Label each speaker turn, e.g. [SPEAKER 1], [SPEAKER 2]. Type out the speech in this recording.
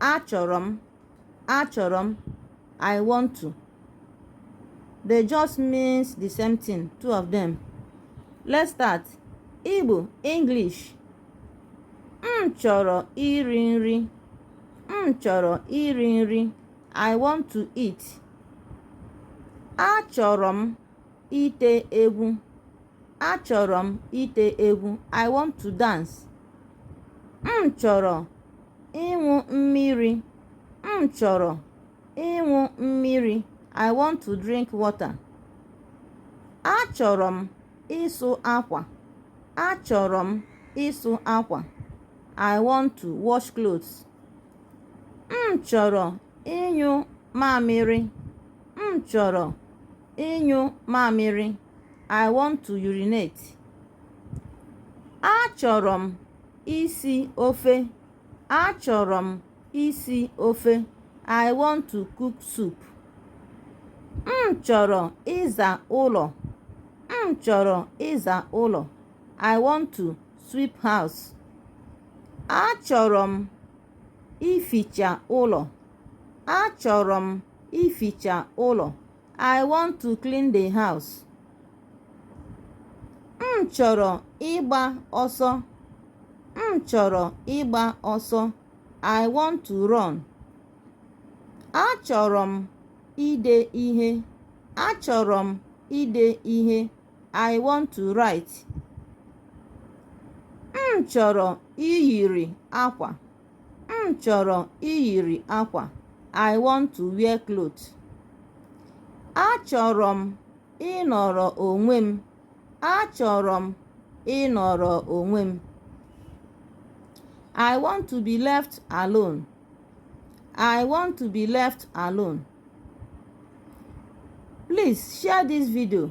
[SPEAKER 1] Achọrọ m. Achọrọ m. I want to. They just means the same thing, two of them. Let's start. Igbo, English. M chọrọ iri nri. M chọrọ iri nri. I want to eat. Achọrọ m. ite egwu achọrọ m ite egwu i want to dance m chọrọ ịṅụ mmiri m chọrọ ịṅụ mmiri i want to drink water achọrọ m ịsụ akwa achọrọ m ịsụ akwa i want to wash clothes m chọrọ ịnyụ mamịrị M chọrọ ịnyụ mamịrị. I want to urinate. Achọrọ m isi ofe. Achọrọ m isi ofe. I want to cook soup. M chọrọ ịza ụlọ. M chọrọ ịza ụlọ. I want to sweep house. Achọrọ m ificha ụlọ. Achọrọ m ificha ụlọ i want to clean the house m chọrọ ịgba ọsọ m chọrọ ịgba ọsọ i want to run achọrọ m ide ihe achọrọ m ide ihe i want to write m chọrọ iyiri akwa m chọrọ iyiri akwa i want to wear cloth achọrọ m ịnọrọ onwe m achọrọ m ịnọrọ onwe m i want to be left alone i want to be left alone please share this video